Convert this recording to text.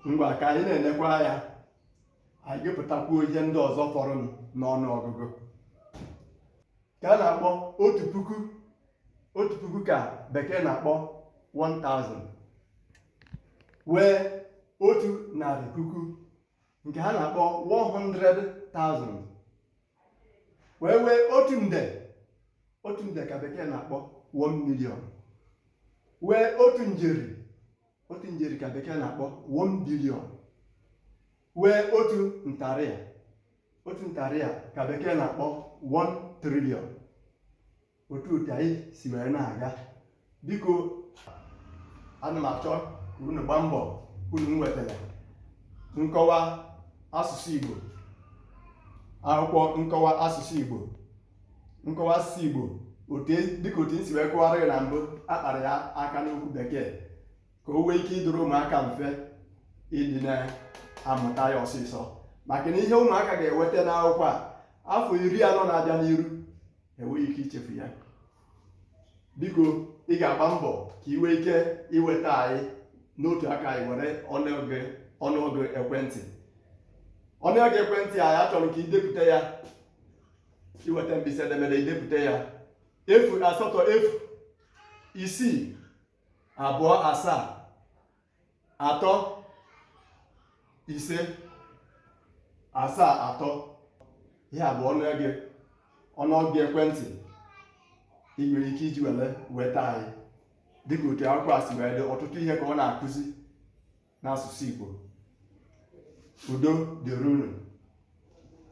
ngwa ka anyị na-enekwa ya anyị gụpụtakwuo ihe ndị ọzọ fọrọnụ n'ọnụ ọgụgụ nke a na-akpọ otu puku otu puku ka bekee na-akpọ 1000 wee otu narị puku nke ha na-akpọ 100,000 wee wee otu nde otu nde ka bekee na-akpọ 1 million wee otu njeri otu njeri ka bekee na-akpọ 1 billion wee otu ntarịa otu ntarịa ka bekee na-akpọ 1 trillion otu otu anyị si wee na-aga biko ana m achọ ka unu gbaa mbọ ka unu nwetara nkọwa asụsụ Igbo akwụkwọ nkọwa asụsụ Igbo nkọwa asụsụ Igbo dịka otu m si wee kọwara ya na mbụ a kpara ya aka n'okwu bekee ka o nwee ike ịdụrụ ụmụaka mfe ịdị na-amụta ya ọsịsọ maka na ihe ụmụaka ga-enweta n'akwụkwọ a afọ iri anọ na-abịa n'iru enweghị ike ichefu ya biko ị ga-agba mbọ ka ị nwee ike inweta anyị n'otu aka anyị nwere ọnụọgụ ekwentị ọnụọgụ ekwentị anyị achọrọ ka i depụta ya i weta mkpịsị edemede i depụta ya efu asatọ efu isii abụọ asaa atọ ise asaa atọ ihe a bụ ọnụego ọnụọgụ ekwentị ị nwere ike iji were nweta anyị dịka otu akwụkwọ a si wee dị ọtụtụ ihe ka ọ na-akụzi n'asụsụ Igbo udo dịrị unu